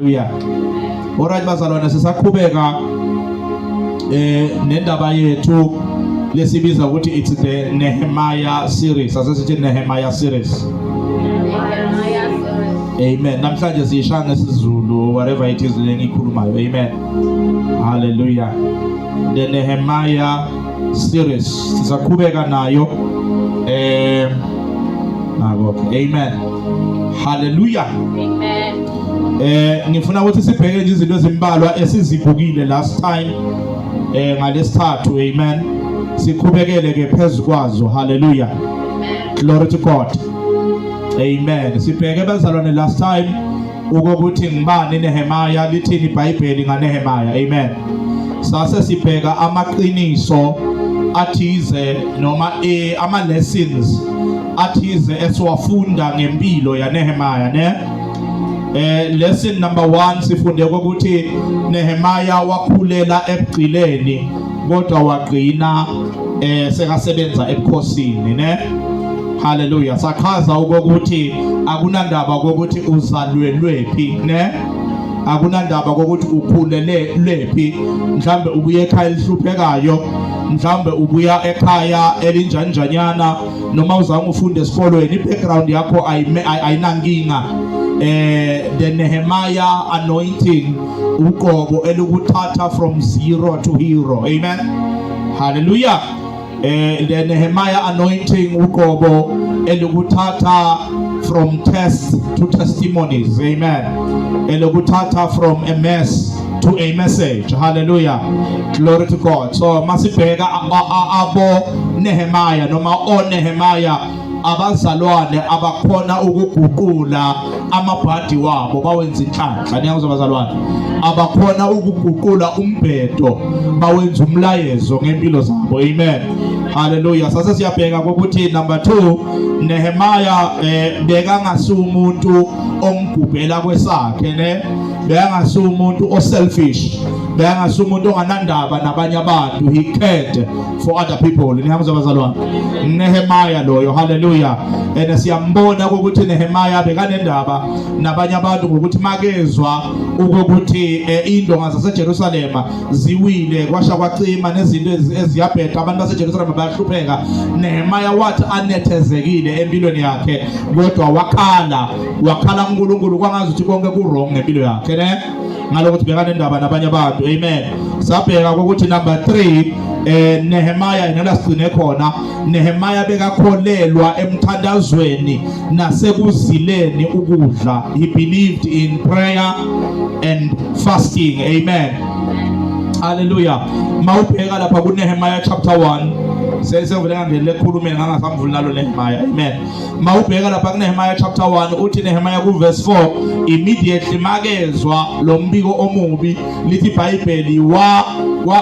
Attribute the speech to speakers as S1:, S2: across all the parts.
S1: Haleluya. Alright bazalwane sisaqhubeka eh nendaba yethu lesibiza ukuthi it's the Nehemiah series. Asesithi Nehemiah series. Amen. Namhlanje siyisha ngesiZulu whatever it is lengikhulumayo. Amen. Hallelujah. The Nehemiah series sizaqhubeka nayo eh nabo amen haleluya amen
S2: eh
S1: ngifuna ukuthi sibheke nje izinto ezimbalwa esizibhukile last time eh ngalesithathu amen sikhubekele ke phezukwazo haleluya glory to god amen sibheke bazalwane last time Ukokuthi ngibani Nehemaya lithini iBhayibheli ngaNehemaya. Amen. Sase sibheka amaqiniso athize noma e ama lessons athize esiwafunda ngempilo yaNehemaya ne eh lesson number 1 sifunde ukuthi Nehemaya wakhulela ebugcileni kodwa wagcina eh sekasebenza ebukhosini ne haleluya sachaza ukuthi akunandaba kokuthi uzalwelwe phi ne akunandaba kokuthi ukhulele lephi mhlambe ubuye ekhaya elihluphekayo mhlambe ubuya ekhaya elinjanjanyana noma uzange ufunde esikolweni i-background yakho ayinankinga eh the Nehemiah anointing uqobo elukuthatha from zero to hero amen hallelujah eh the Nehemiah anointing uqobo elukuthatha from tests to testimonies amen elukuthatha from a mess to a message hallelujah glory to god so masibheka abo Nehemiah noma o Nehemiah abazalwane abakhona ukuguqula amabhadi wabo bawenza inhlanhla niyakuzwa abazalwane abakhona ukuguqula umbhedo bawenza umlayezo ngempilo zabo amen haleluya sase siyabheka ukuthi number 2 Nehemaya eh, bekangasi umuntu ongigubhela kwesakhe ne bekangasi umuntu oselfish bekangasi umuntu onganandaba nabanye abantu he cared for other people nihamba abazalwane Nehemiah loyo haleluya and siyambona ukuthi Nehemiah bekanendaba nabanye abantu ngokuthi makezwa ukuthi eh, indonga zaseJerusalema ziwile kwasha kwacima nezinto eziyabheda abantu baseJerusalema bayahlupheka Nehemiah wathi anethezekile empilweni yakhe kodwa wakhala wakhala uNkulunkulu kwangazi ukuthi konke ku wrong ngempilo yakhe ne ngalokho sibhekana indaba nabanye abantu amen sabheka ukuthi number 3 eh Nehemiah yena sigcine khona Nehemiah bekakholelwa emthandazweni nasekuzileni ukudla he believed in prayer and fasting amen haleluya mawubheka lapha ku Nehemiah chapter 1 sesevele ngangele khulumela ngangasamvuli nalo Nehemiah amen Mawubheka lapha kuNehemiah chapter 1 uthi Nehemiah ku verse 4 immediately makezwa lo mbiko omubi lithi iBhayibheli wa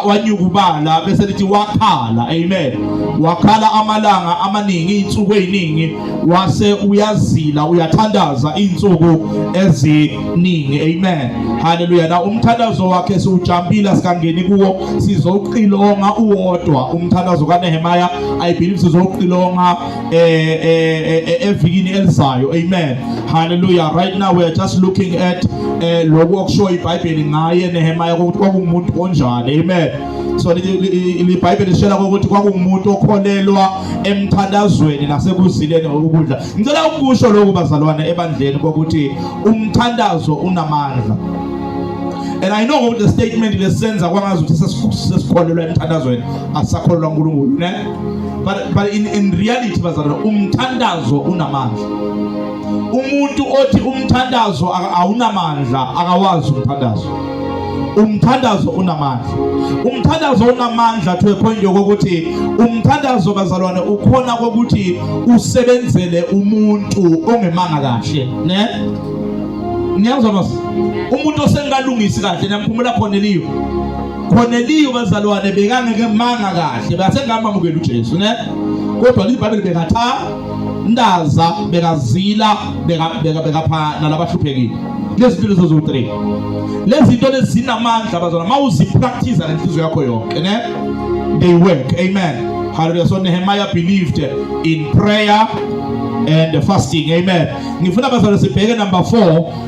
S1: wanyukubala bese lithi wakhala amen wakhala amalanga amaningi insuku eziningi wase uyazila uyathandaza insuku eziningi amen haleluya na umthandazo wakhe siwujampila sikangeni kuwo sizoqilonga uwodwa umthandazo kaNehemiah i believe sizoqilonga eh, eh, eh, evikini elizayo amen haleluya right now we are just looking at eh lokho okusho iBhayibheli ngaye Nehemiah ukuthi kwakungumuntu onjani amen so libhayibheli lishela ukuthi kwakungumuntu okholelwa emthandazweni nasekuzileni ukudla ngicela ukusho lokhu bazalwane ebandleni kokuthi umthandazo unamandla and i know ukuthi le statement lesenza kwangazi ukuthi sesikholelwa emthandazweni asisakholelwa unkulunkulu ne but but in in reality bazalwane umthandazo unamandla umuntu othi umthandazo awunamandla akawazi umthandazo umthandazo unamandla umthandazo unamandla to a point yokuthi umthandazo bazalwane ukhona kokuthi usebenzele umuntu ongemanga kahle ne niyazwa mas umuntu osengalungisi kahle namphumula khona eliyo Corneliyo bazalwane bekangeke manga kahle basengamamukela uJesu ne kodwa libhayibheli bekatha ndaza bekazila beka bekapha nalabahluphekile lezi zinto lezo zowu-3 lezi zinto lezi zinamandla bazalwane uma uzipractice ngenhliziyo yakho yonke ne they work amen hallelujah so nehemiah believed in prayer and fasting amen ngifuna bazalwane sibheke number 4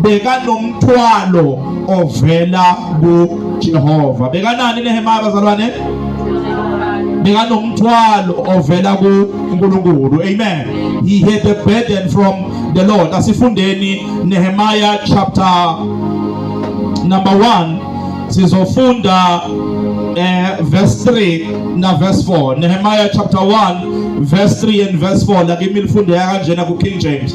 S1: bekanomthwalo ovela kuJehova bekanani Nehemiah bazalwane bekanomthwalo ovela kuNkulunkulu amen he had a burden from the Lord asifundeni Nehemiah chapter number 1 sizofunda eh verse 3 na verse 4 Nehemiah chapter 1 verse 3 and verse 4 la kimi lifunde kanjena ku King James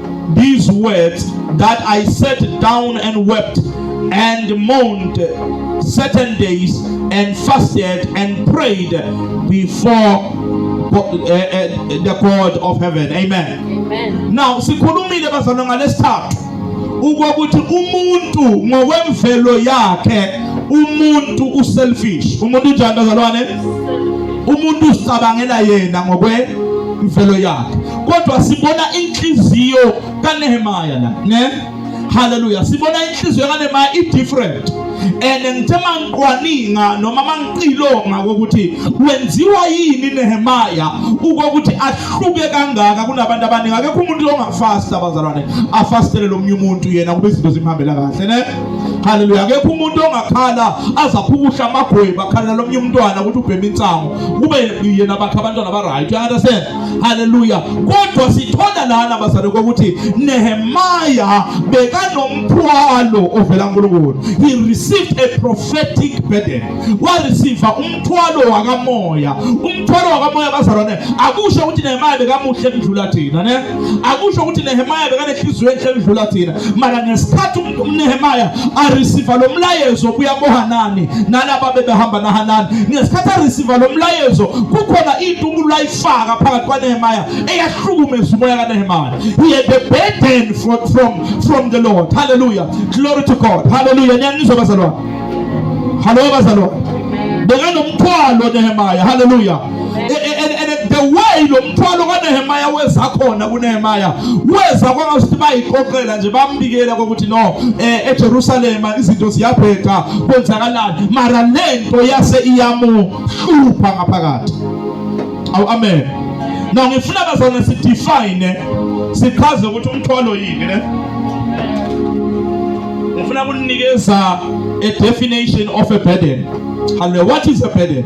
S1: these words that I sat down and wept and mourned certain days and fasted and prayed before uh, uh, the God of heaven. Amen. Amen. Now sikhulumile bazalwa ngalesithathu ukuthi umuntu ngokwemvelo yakhe umuntu uselfish. Umuntu njani bazalwane? Umuntu usicabangela yena ngokwe imvelo yakhe kodwa sibona inhliziyo kaNehemiah la ne haleluya sibona inhliziyo kaNehemiah i different and ngithe mangiqwaninga noma mangiqilonga kokuthi wenziwa yini Nehemaya ukokuthi ahluke kangaka kunabantu abaningi akekho umuntu ongafasta abazalwane afastele lomunye umuntu yena kube izinto zimhambela kahle ne haleluya akekho umuntu ongakhala azaphukusha amagweba akhalela lomunye umntwana ukuthi ubhema insango kube yena bakhe abantwana ba right you understand Haleluya. Kodwa sithola lana bazalwane kokuthi Nehemiah bekanomthwalo ovela kuNkulunkulu. He received a prophetic burden. Wa receive umthwalo wakamoya. Umthwalo wakamoya bazalwane akusho ukuthi Nehemiah bekamuhle kudlula thina, ne? Akusho ukuthi Nehemiah bekanehliziyo enhle kudlula thina. Mara ngesikhathi uNehemaya areceive lo mlayezo obuya koHanani nalaba bebehamba naHanani ngesikhathi areceive lo mlayezo kukhona into umuntu ayifaka phakathi kwaNehemaya eyahlukumeza umoya kaNehemaya he had a burden from from from the Lord hallelujah glory to God hallelujah nyanizwa bazalwane hallo bazalwane bekanomthwalo Nehemaya hallelujah the way lo mthwalo kaNehemiah weza khona kuNehemiah weza kwangasuthi bayiqoqela nje bambikela ukuthi no eh, eJerusalem izinto ziyabheda kwenzakalani mara lento yase iyamuhlupha ngaphakathi awu amen no ngifuna bazana si define sichaze ukuthi umthwalo yini ne ngifuna kuninikeza a definition of a burden hallelujah what is a burden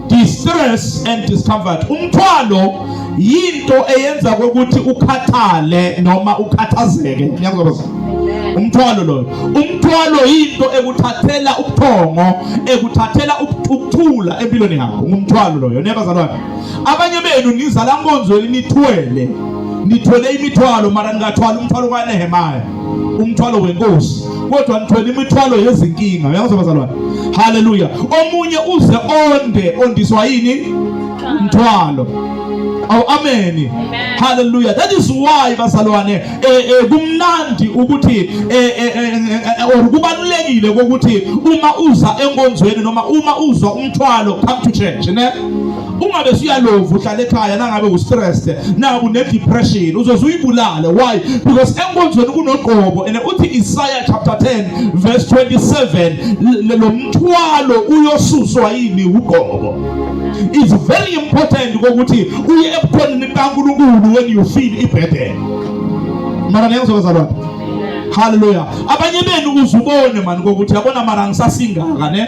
S1: distress and discomfort umthwalo yinto eyenza ukuthi ukhathale noma ukhathazeke ngiyakuzobaza umthwalo loyo umthwalo yinto ekuthathela ubuthongo ekuthathela ukuthula empilweni yakho ngumthwalo loyo nebazalwane abanye benu nizala nkonzweni nithwele nithwele imithwalo mara ningathwala umthwalo kaNehemiah umthwalo wenkosi kodwa nithwele imithwalo yezinkinga uyangizwa bazalwane haleluya omunye uze onde ondiswa yini mthwalo aw ameni haleluya that is why bazalwane eh, eh, kumnandi ukuthi eh, or kubalulekile ukuthi uma uza enkonzweni noma uma uzwa umthwalo come to church ne uma besuyalova uhlala ekhaya nangabe ustressed naku ne-depression uzoze uyibulale why because enkonzweni kunoqobo and uthi isaya chapter 10 verse 27 lo mthwalo uyosuswa yini uqobo it's very important kokuthi uye ebukhoneni kankulunkulu when you feel ibhedele mara niyangizokazalwana haleluya abanye benu uzubone mani kokuthi yabona mara ngisasingaka ne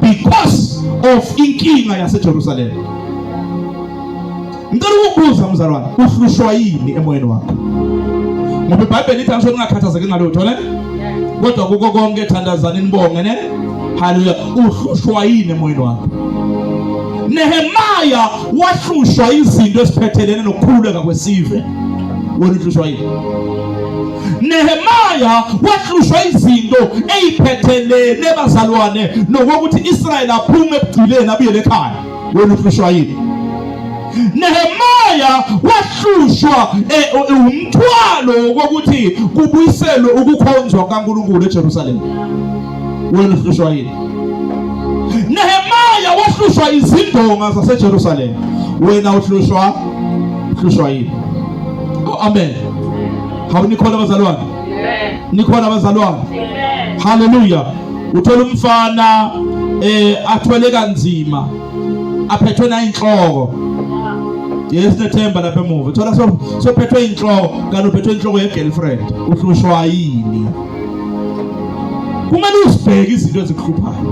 S1: because of inkinga yaseJerusalem. Ngicela ukubuza mzalwane, uhlushwa yini emoyeni wakho? Ngoba iBhayibheli lithi angisho ningakhathazeki ngalutho ne? Kodwa kuko konke thandazani nibonge ne? Haleluya. Uhlushwa yini emoyeni wakho? Nehemaya wahlushwa izinto esiphethelene nokukhuleka kwesive. Wena uhlushwa yini? Nehemaya wahlushwa izinto eyiphethelene bazalwane nokuthi Israel aphume ebugcileni abuyele ekhaya. Wena uhlushwa yini? Nehemaya wahlushwa eh, eh, umthwalo wokuthi kubuyiselwe ukukhonzwa kukaNkulunkulu eJerusalem. Wena uhlushwa yini? Nehemaya wahlushwa izindonga zaseJerusalem. Wena uhlushwa uhlushwa yini? Oh amen. Hawu nikhona abazalwane? Amen. Nikhona abazalwane? Amen. Hallelujah. Uthola umfana eh athwele kanzima aphethwe nayinhloko yesinethemba lapha emuva thola sophethwe inhloko kanti uphethwe inhloko ye-girlfriend uhlushwa yini kumele uzibheke izinto ezikuhluphayo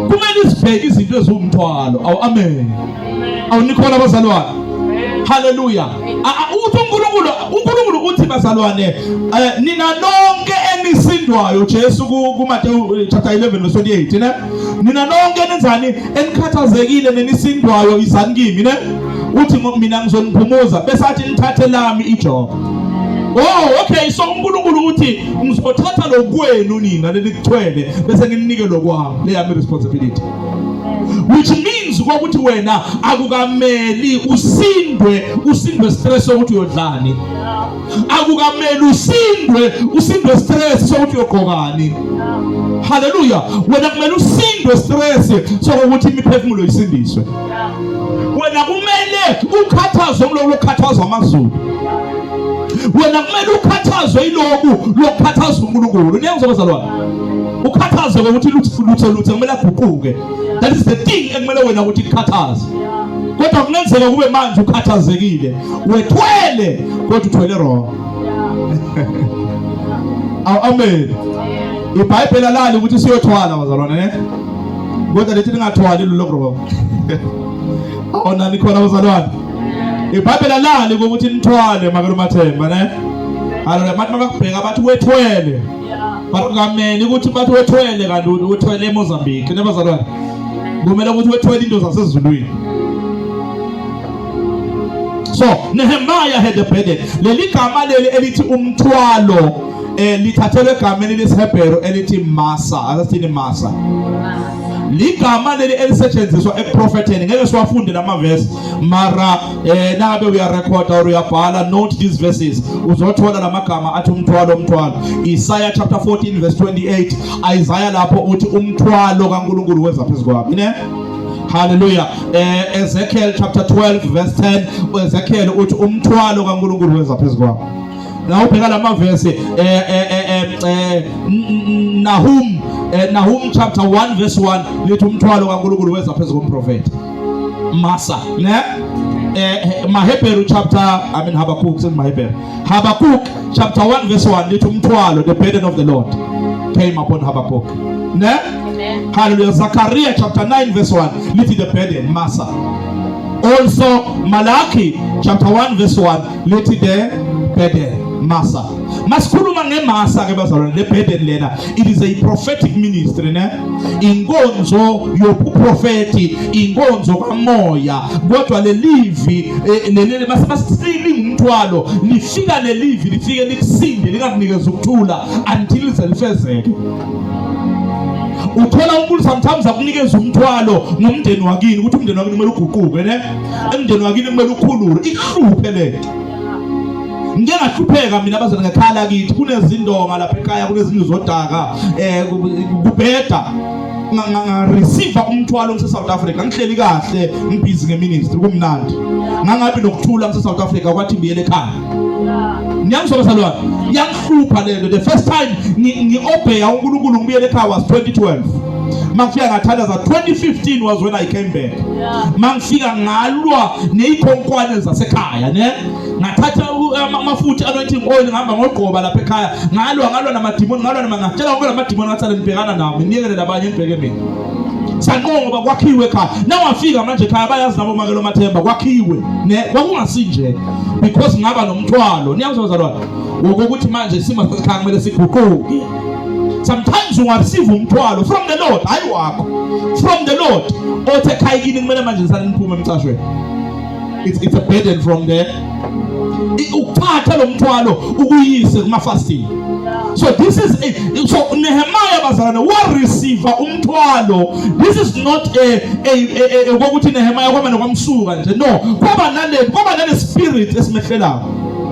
S1: kumele uzibheke izinto eziwumthwalo awu amen awu nikhona abazalwane haleluya ukuthi uNkulunkulu uNkulunkulu uthi bazalwane eh, nina nonke enisindwayo Jesu kuMateyu eh, chapter 11 verse 28 ne nina nonke nenzani enikhathazekile nenisindwayo izani kimi ne uthi mina ngizoniphumuza bese athi nithathe lami ijoka Oh okay so uNkulunkulu uthi ngizothatha lokwenu nina lelikuthwele bese nginike lokwami leyami responsibility which means ukuthi wena akukameli usindwe usindwe stress sokuthi uyodlani akukameli usindwe usindwe stress sokuthi uyogqokani haleluya wena kumele usindwe stress sokuthi imiphefumulo isindiswe wena kumele ukhathazwe umloko lokukhathazwa amazulu wena kumele ukhathazwe iloku lokukhathazwa uNkulunkulu niyangizwa bazalwane ukhathazwe ngokuthi lutho lutho lutho kumele aguquke that is the thing ekumele wena ukuthi kukhathaze kodwa kungenzeka kube manje ukhathazekile wethwele kodwa uthwele wrong aw amen ibhayibheli alali ukuthi siyothwala bazalwane ne kodwa lethi ningathwali lulo wrong awona nikhona bazalwane ibhayibheli alali ukuthi nithwale makelumathemba ne haleluya abantu makakubheka bathi wethwele But ungameni ukuthi bathi wethwele kanti uthwele eMozambique nebazalwane. Kumele ukuthi wethwele into zasezulwini. So Nehemiah had a burden. Leli gama leli elithi umthwalo eh lithathelwe egameni lesiHebheru elithi masa asithini masa ligama leli elisetshenziswa ekuprofetheni ngeke siwafunde lama verse mara eh nabe uyarecorda or uyabhala note these verses uzothola lamagama athi umthwalo umthwalo Isaiah chapter 14 verse 28 Isaiah lapho uthi umthwalo kaNkuluNkulu weza phezukwami ne Hallelujah. Eh Ezekiel chapter 12 verse 10 Ezekiel uthi umthwalo kaNkuluNkulu weza phezukwami na ubheka lama verse eh eh eh, eh, eh Nahum eh, Nahum chapter 1 verse 1 lithi umthwalo kaNkuluNkulu weza phezu komprofeti masa ne eh, eh Maheberu chapter I mean Habakkuk sing Maheberu Habakkuk chapter 1 verse 1 lithi umthwalo the burden of the Lord came upon Habakkuk ne hallelujah Zakaria chapter 9 verse 1 lithi the burden masa also Malachi chapter 1 verse 1 lithi the burden masa masikhuluma ngemasa ke bazalwane le burden lena it is a prophetic ministry ne inkonzo yobuprofeti inkonzo kamoya kodwa lelivi eh, leli masibasingumthwalo lifika lelivi lifike likusinde lingakunikeza ukuthula until lize lifezeke uthola umuntu sometimes akunikeza umthwalo ngomndeni wakini ukuthi umndeni wakini kumele uguquke ne umndeni wakini kumele ukhulule ihluphe lento ngike ngahlupheka mina abazali ngekhala kithi kunezindonga lapha ekhaya kunezindlu zodaka eh kubheda ngareceive umthwalo ngise South Africa ngihleli kahle ngibhizi ngeministry kumnandi ngangabi nokuthula ngise South Africa kwathi ngiyele ekhaya ngiyangisoba salwana yangihlupha lento the first time ngiobheya uNkulunkulu ngibuyele ekhaya was 2012 makufika ngathandaza 2015 was when I came back mangifika ngalwa neyikhonkwane zasekhaya ne ngathatha amafutha anointing oil ngihamba ngogqoba lapha ekhaya ngalwa ngalwa namadimoni ngalwa namangatshela wonke lamadimoni ngathana nibhekana nawo nginiyekele labanye nibheke mina sanqoba kwakhiwe ekhaya nawafika manje ekhaya bayazi nabo makelo mathemba kwakhiwe ne kwakungasinje because ngaba nomthwalo niyangizwa bazalwane wokuthi manje isimo sasekhaya kumele siguquke sometimes ungabsiva umthwalo from the lord hayi wakho from the lord othi ekhaya kini kumele manje nisale niphume emcashweni it's, it's a burden from there ukuthatha lo mthwalo ukuyise kumafasting so this is a, so Nehemiah bazalwane wareceive umthwalo this is not a a ukuthi Nehemiah kwamane kwamsuka nje no kwaba nale kwaba nale spirit esimehlelayo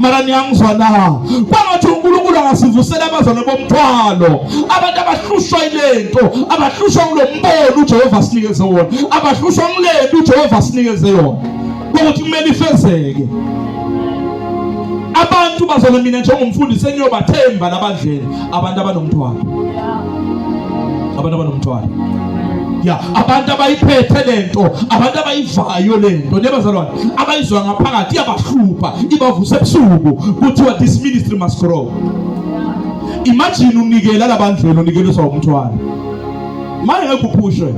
S1: mara niyangizwa na kwangathi unkulunkulu angasivusela abazalwane bomthwalo abantu abahlushwa ilento abahlushwa kulo mbono ujehova sinikeze wona abahlushwa kulento ujehova sinikeze yona kokuthi kumele ifezeke abantu bazona mina njengomfundisi engiyobathemba labadlele abantu abanomthwalo abantu abanomthwalo ya abantu abayiphethe lento abantu abayivayo lento nebazalwane abayizwa ngaphakathi iyabahlupha ibavusa ebusuku kuthiwa this ministry must grow imagine unikela labandlelo unikeliswa umthwalo manje ngeke uphushwe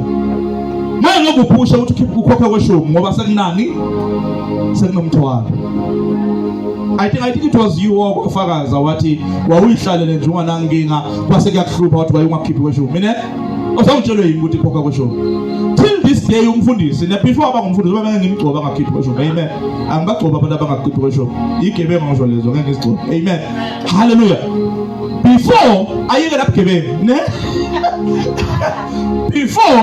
S1: manje ngeke uphushwe ukuthi ukhokhe kweshumi ngoba sekunani sekunomthwalo I think I think it was you owafakaza wathi wawuyihlalele nje unganankinga kwase kuyakuhlupha wathi wayungakhiphi kweshumi mina Osawutshelwe yini ukuthi ikhokha kusho? Till this day umfundisi ne before aba ngumfundisi baba ngimgcoba ngakhipha kusho. Amen. Angibagcoba abantu abangakhipha kusho. Igebengu ngisho lezo ngeke ngizigcobe. Amen. Hallelujah. Before ayike lapha gebengu, ne? Before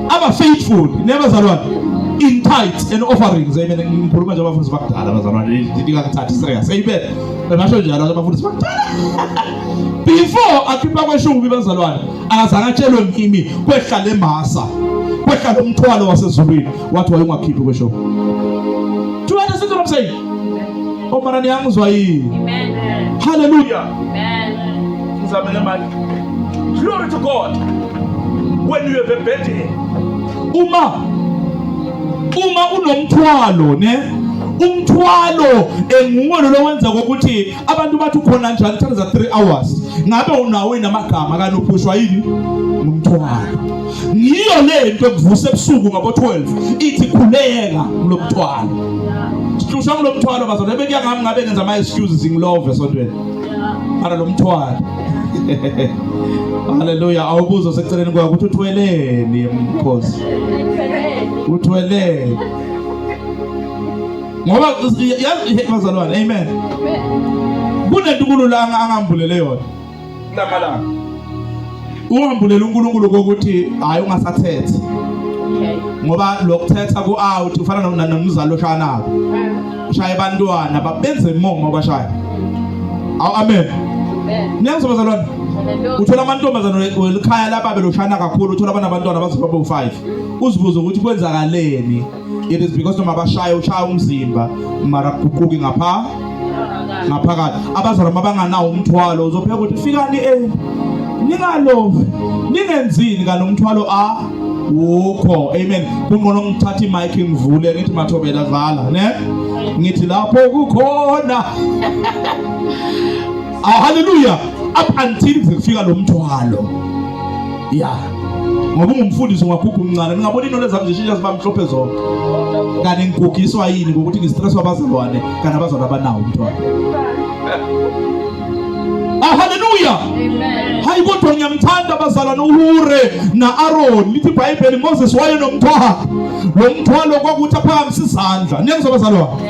S1: aba faithful, never zalwana. in tithes and offerings amen ngikhuluma nje abafundisi bakudala bazalwane ndikakuthathi serious amen basho njalo abafundisi bakudala before akhipha kweshumi bazalwane akazange atshelwe ngimi kwehla le masa kwehla lo mthwalo wasezulwini wathi wayungakhiphi kweshumi do you understand what i'm saying omara niyangizwa yini amen hallelujah amen ngizamele manje glory to god when you have a burden uma uma unomthwalo ne umthwalo enguwe lo wenza ukuthi abantu bathi ukhona njalo uthatha za 3 hours ngabe unawo inamagama kanti uphushwa yini ngumthwalo ngiyo le nto ekuvuse ebusuku ngabo 12 ithi khuleka kulomthwalo sihlushwa kulomthwalo bazona bekuya ngami ngabe ngenza ama excuses ngilove sontweni ara lomthwalo haleluya awubuzo seceleni kwakho ukuthi uthweleni mkhosi uthweleni ngoba yazi bazalwane amen kunento uNkulunkulu angambulele yona kulamalanga ungambulela uNkulunkulu kokuthi hayi ungasathethe ngoba lokuthetha ku out ufana nomzalo oshaya nabo ushaye abantwana babenze momo abashaya awu amen niyangizwa bazalwane uthola amantombazana welikhaya lababe loshana kakhulu uthola abantwana bazoba bo 5 uzibuze ukuthi kwenzakaleni it is because noma bashaya ushaya umzimba mara kuquki ngapha ngaphakathi abazalwa mabanganawo umthwalo uzopheka ukuthi fikani eh ningalovi ningenzini kanomthwalo a wukho amen kunqono ngithatha imic ngivule ngithi mathobela dlala ne ngithi lapho kukhona ah haleluya up until kufika lo mthwalo yeah ngoba ungumfundisi ungwakhukha umncane ningabona iy'nwele zami zishintsha ziba mhlophe zonke kanti ngigugiswa yini ngokuthi ngistresswa abazalwane kanti abazalwane abanawo umntwana ah, haleluya
S2: hayi kodwa ngiyamthanda
S1: abazalwane uhure na-aroni lithi ibhayibheli moses wayenomthwalo lo mthwalo kwakuthi aphakamise izandla niyangizwa abazalwane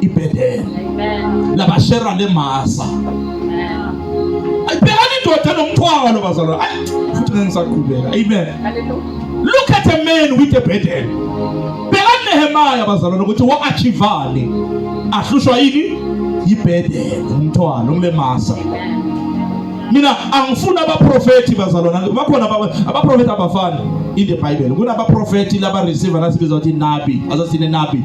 S1: ibhedela
S2: labashera lemasa
S1: ayibhekani indoda nomthwalo bazalwa futhi ngisaqhubeka amen
S2: look at a
S1: man with a bhedela bhekani nehemaya bazalwa nokuthi wa-achivani ahlushwa yini yibhedela umthwalo ngilemasa mina angifuni abaprofethi bazalwana bakhona abaprofethi abafani in the bible kunabaprofethi labareceiver nasibiza ukuthi nabi azathini nabi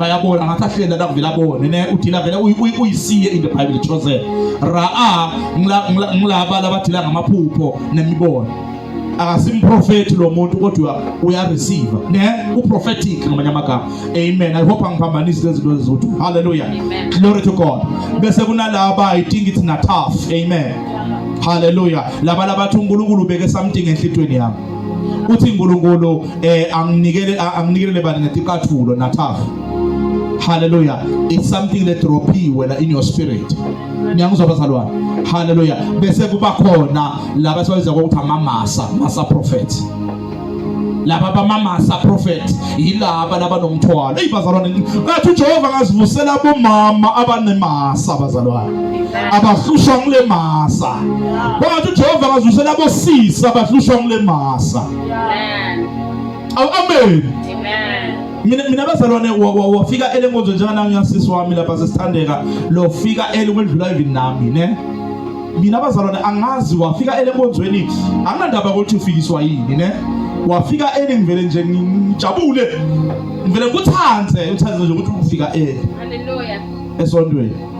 S1: bayabona ngathi ahlenda la kuvela bone ne udila vele uyisiye in the bible chosen raa ngilaba labadila ngamaphupho nemibono akasimprofethi lo muntu kodwa uyareceive ne uprophetic ngamanye amagama amen i hope angiphambanisi lezi zinto ezizothu hallelujah glory to
S2: god
S1: bese kunalaba i think it's nataf amen hallelujah laba labathi uNkulunkulu ubeke something enhlitweni yami uthi uNkulunkulu eh anginikele anginikelele bani ngeticathulo nathafu haleluya it's something that drophiwe la in your spirit niyangizwa bazalwane haleluya bese kuba khona laba sibabiza ukuthi amamasa masa prophet laba bamamasa prophet yilaba laba nomthwalo ey bazalwane ngathi uJehova ngazivusela bomama abanemasa bazalwane abahlushwa ngule masa bangathi uJehova akazwisela abosisi abahlushwa ngule masa awu amen mina mina bazalwane wafika elenkonzo njengana ngiyasisi wami lapha sesithandeka lo fika ele kwendlula even nami ne mina bazalwane angazi wafika elenkonzweni anginandaba ukuthi ufikiswa yini ne wafika eli ngivele nje ngijabule ngivele ngikuthande uthande nje ukuthi ufika eli haleluya
S2: esontweni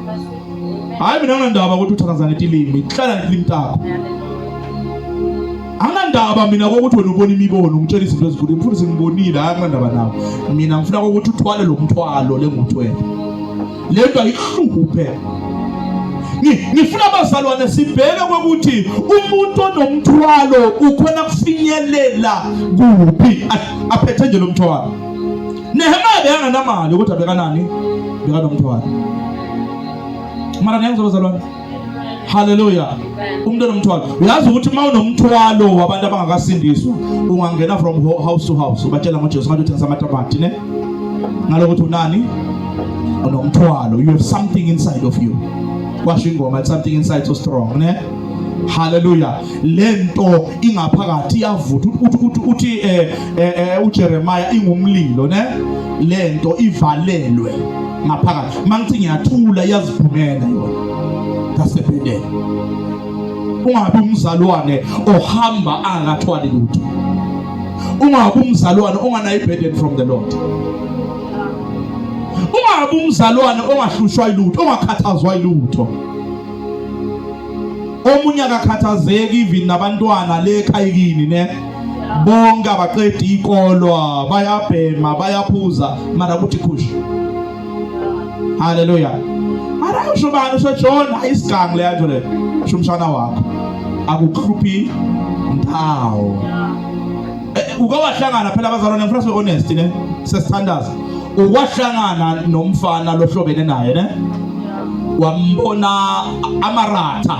S1: hayi mina anginandaba ukuthi uthakaza ngiphi ilimi hlala ngiphi ilimi takho anginandaba mina kokuthi wena ubona imibono ngitshela izinto ezinkulu mfundisi ngibonile hayi anginandaba nawo mina ngifuna ukuthi uthwale lo mthwalo lenguthwele le nto ayihluphe ngifuna abazalwane sibheke kokuthi umuntu onomthwalo ukhona kufinyelela kuphi aphethe nje lo mthwalo Nehemiah bekanganamali kodwa bekanani? Bekanomthwalo. Mara niyangizwa bazalwane? Hallelujah. Umuntu onomthwalo. Uyazi ukuthi uma unomthwalo wabantu abangakasindiswa, ungangena from house to house ubatshela ngoJesu ngathi uthengisa amatabati ne? Ngalokuthi unani? Unomthwalo. You have something inside of you. Kwasho ingoma something inside so strong ne? Hallelujah. lento ingaphakathi iyavutha uthi uthi eh, eh, eh uJeremiah ingumlilo ne lento ivalelwe ngaphakathi mangithi ngiyathula iyaziphumela yona kasebedele ungabe umzalwane ohamba angathwali lutho ungabe umzalwane onganayo burden from the Lord ungabe umzalwane ongahlushwa ilutho ongakhathazwa ilutho omunye akakhathazeki even nabantwana le ekhayikini ne bonke abaqeda ikolwa bayabhema bayaphuza mara kuthi khushi haleluya mara usho bani usho John ayisigangi le yanto le usho umshana wakho akukhuphi ndawo eh, uke wahlangana phela abazalwane ngifuna sibe honest ne sesithandaza ukwahlangana nomfana lohlobene naye ne wambona amaratha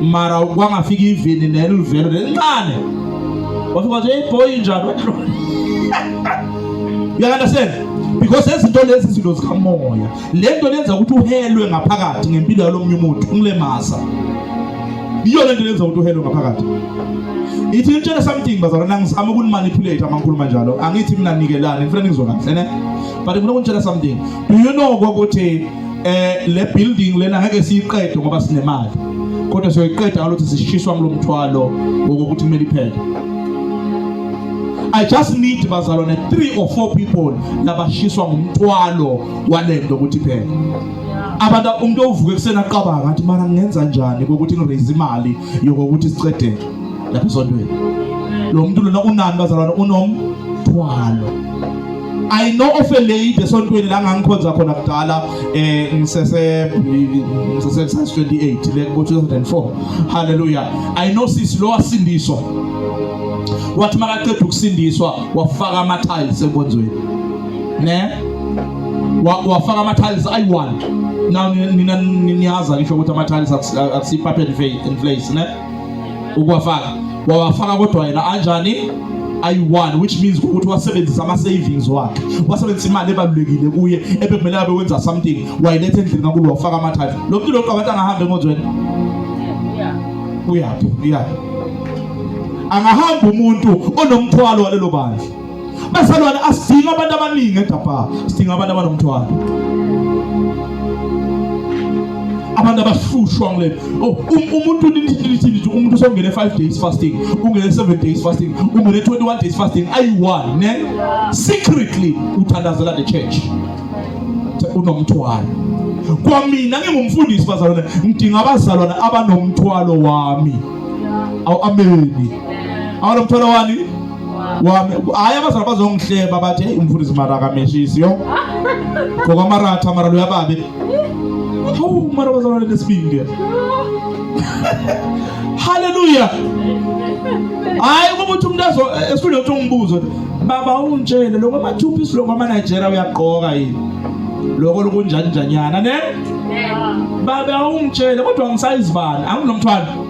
S1: mara kwangafika ivini nelivelo lelincane wafika wathi hey boy njani uyakandastand because ezinto lezi izinto zikamoya le nto lenza ukuthi uhelwe ngaphakathi ngempilo yalomnye umuntu ungilemasa yiyo le nto lenza ukuthi uhelwe ngaphakathi ithi ngitshele something bazalwana ngizama ukunimanipulate amankulumo anjalo angithi mina nikelani ngifuna nizwe kahle ne but ngifuna ukutshela something do you know ukuthi eh le building lena ngeke siyiqede ngoba sinemali kodwa siyoyiqeda ngalothi sishiswa ngilomthwalo wokuthi kumele iphele I just need bazalwane 3 or 4 people labashiswa ngumthwalo walento ukuthi phela abantu umuntu ovuke kusena qabanga ngathi mara ngenza njani ukuthi ngiraise imali yokuthi sicedele lapha esontweni lo muntu lona unani bazalwane unomthwalo I know of a lady esontweni la ngangikhonza khona kudala eh ngisese ngisese 28 le ku 2004 hallelujah I know sisi lo wasindiswa wathi makaqeda ukusindiswa wafaka ama tiles enkonzweni ne wafaka ama tiles ayi-1 now nina niyazi ngisho ukuthi ama tiles akusiyi-puppet and place ne ukuwafaka wawafaka kodwa yena anjani ayi-one which means ukuthi wasebenzisa ama-savings wakhe wasebenzisa imali ebalulekile kuye ebekumele abe wenza something wayiletha endlini kankulu wafaka amathatha lo mntu lokhu abantu angahambi enkonzweni uyaphi uyaphi angahamba umuntu onomthwalo walelo bandla Bazalwane asidinga abantu abaningi eGabha. Sidinga abantu abanomthwalo. abantu abahlushwa ngile oh, um, umuntu nithini umuntu usongene 5 days fasting ungene 7 days fasting ungene 21 days fasting ayi-one ne secretly uthandazela the church unomthwalo kwamina ngingumfundisi bazalwane ngidinga abazalwane abanomthwalo wami awu ameni abanomthwalo wani wami hayi abazali bazongihleba bathi heyi umfundisi mara akameshisi yo ngokwamaratha mara loya babe hawu mara bazalwane nesibindi haleluya hayi ukuba uthi umuntu azo esifuna ukuthi umbuzo baba ungitshele lokho amathupha isiloko amanigeria uyagqoka yini lokho lokunjanjanyana ne baba ungitshele kodwa ngisayizibani anginomthwalo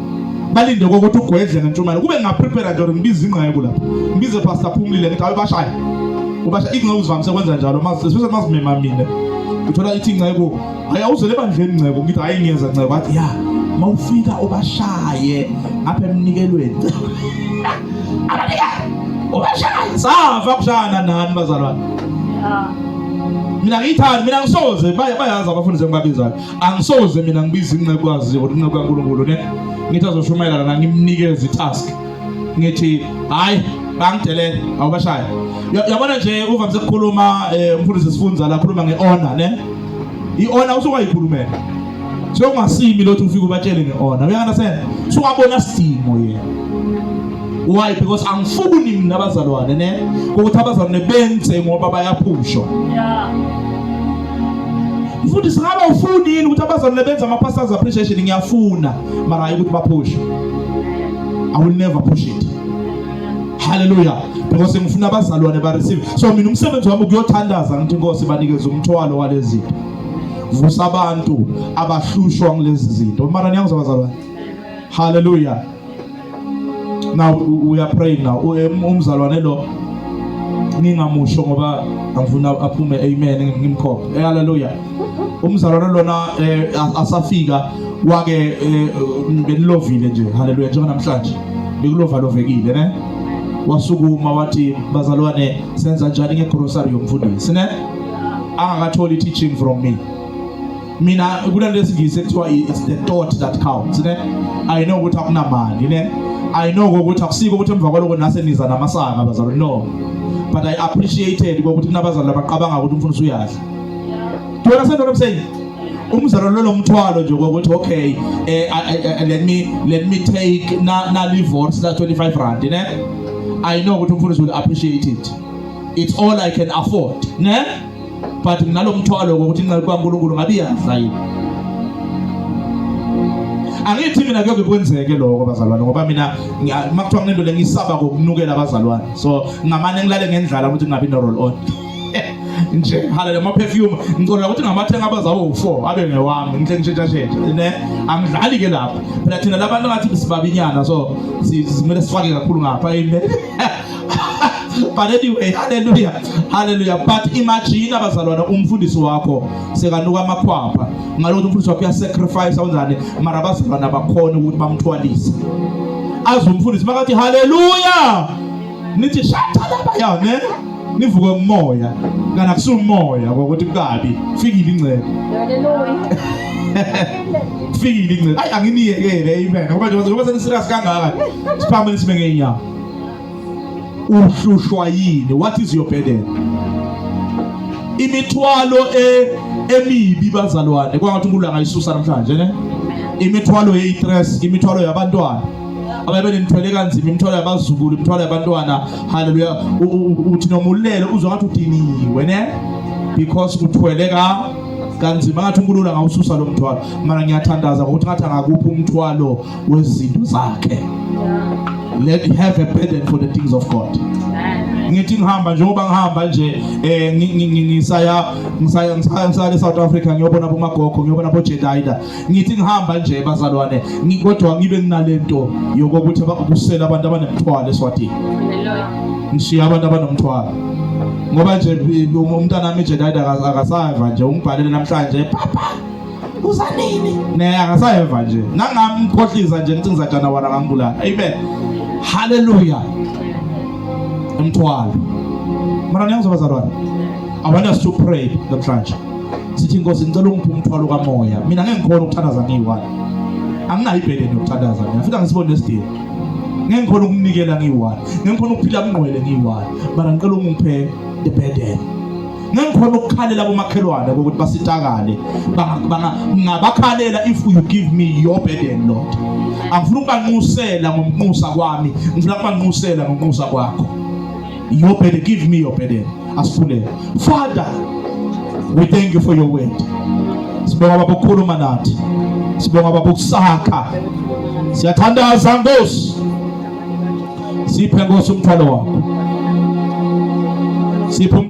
S1: balinde kokuthi ugwedle ngentshumayelo kube ngingaprepare nje or ngibize ingqeku lapho ngibize pastor phumlile ngithi awe bashaye ubasha ingceku uzivamise kwenza njalo especially mazimema mina uthola ithi ingceku hayi awuzele ebandleni ngcebo ngithi hayi ngiyeza ngcebo athi ya mawufika ubashaye apha emnikelweni abanika ubashaye sava kushana nani bazalwane mina ngiyithandi mina ngisoze bayazi abafundi sengibabizayo angisoze mina ngibiza incekwazi or inceku kaNkulunkulu ne ngithi azoshumayela lana ngimnikeze itask ngithi hayi bangidelele awubashaye yabona nje uvamise ukukhuluma eh, umfundisi sifunza la khuluma ngeona ne iona usukayikhulumela sokungasimi lothi ufike ubatshele ngeona uyangasena suwabona sidingo yena why because angifuni mina abazalwane ne ukuthi abazalwane benze ngoba bayaphushwa yeah mfundisi ngabe ufuni yini ukuthi abazalwane benze ama-pastors appreciation ngiyafuna mara hayi ukuthi baphushe i will never push it haleluya because ngifuna abazalwane bareceive so mina umsebenzi wami ukuyothandaza ngithi inkosi banikeze umthwalo walezi zinto vusa abantu abahlushwa ngilezi zinto mara niyangizwa bazalwane haleluya now we are praying now um, umzalwane lo ngingamusho ngoba angifuna aphume amen ngimkhophe eh, haleluya umzalwane lona eh, asafika wake eh, benilovile nje haleluya njengoba namhlanje bekulovalovekile ne wasukuma wathi bazalwane senza njani ngegrocery yomfundisi ne angakatholi teaching from me mina kunento esingisi ekuthiwa it's the thought that counts ne i know ukuthi akunamali ne i know ukuthi akusiko ukuthi emva kwaloko nase niza namasanga bazalwane no but i appreciated ukuthi kunabazalwane abaqabanga ukuthi umfundisi uyadla do you understand what i'm saying umzalo lolo mthwalo nje ukuthi okay eh, eh, eh, let me let me take na na divorce la 25 rand ne i know ukuthi umfundisi will appreciate it it's all i can afford ne but nginalomthwalo ukuthi inceku kaNkulunkulu ngabe iyaza yini angithi mina kuyoke kwenzeke lokho bazalwane ngoba mina makuthiwa nginento lengisaba kokunukela abazalwane so ngamane ngilale ngendlala ukuthi ngingabi no roll on nje haleluya ama perfume ngicela ukuthi ngamathenga abazawo u4 abe ngewami ngihle ngishintsha shintsha ne angidlali ke lapho phela thina labantu ngathi sibabinyana so simele sifake kakhulu ngapha amen but anyway haleluya haleluya but imagine abazalwana umfundisi wakho sekanuka amakhwapha ngalokuthi umfundisi wakho uyasacrifice awenzani mara abazalwana bakhona ukuthi bamthwalise azi umfundisi makathi haleluya nithi shatalaba ya ne nivuke umoya kana kusumoya ngokuthi kukabi fikile ingcebo
S2: haleluya
S1: fikile ingcebo ayi anginiyekele amen ngoba njengoba seniserious kangaka siphamele sibe ngeenyawo uhlushwa yini what is your burden imithwalo e emibi bazalwane kwangathi uNkulunkulu angayisusa namhlanje ne imithwalo yeyistress imithwalo yabantwana ababe nithwele kanzima imithwalo yabazukulu imithwalo yabantwana haleluya uthi noma ulele uzwa ngathi udiniwe ne because uthwele ka kanzima ngathi uNkulunkulu angawususa lo mthwalo mara ngiyathandaza ngokuthi ngathi angakuphi umthwalo wezinto zakhe let him have a burden for the things of God ngithi ngihamba njengoba ngihamba nje eh ngisaya ngisaya ngisaya le South Africa ngiyobona bomagogo ngiyobona bo Jedida ngithi ngihamba nje bazalwane kodwa ngibe nginalento yokuthi abakusela abantu abanemthwalo eswatini
S2: ngishiya abantu
S1: abanomthwalo ngoba nje umntana wami Jedida akasava nje ungibhalele namhlanje papa kusanini ne akasayeva nje nangamkhohlisa nje ngithi ngizajana wara ngambulala amen haleluya umthwalo mara niyangizwa bazalwane i want us to pray namhlanje sithi inkosi ngicela ungiphe umthwalo kamoya mina ngeke ngikhona ukuthandaza ngiyi-one anginayo ibhedeni yokuthandaza mina futhi angisiboni nesidingo ngeke ngikhona ukunikela ngiyi-one ngeke ngikhona ukuphila mngqwele ngiyi-one mara ngicela ungiphe the burden ngengikhona ukukhalela komakhelwane ukuthi basitakale ngabakhalela if you give me your burden lord angifuna ukubanxusela ngomnxusa kwami ngifuna ukubanxusela ngomnxusa kwakho your burden give me your burden asifulele father we thank you for your word sibonga baba ukukhuluma nathi sibonga baba ukusakha siyathandaza nkosi siphe nkosi umthwalo wakho siphe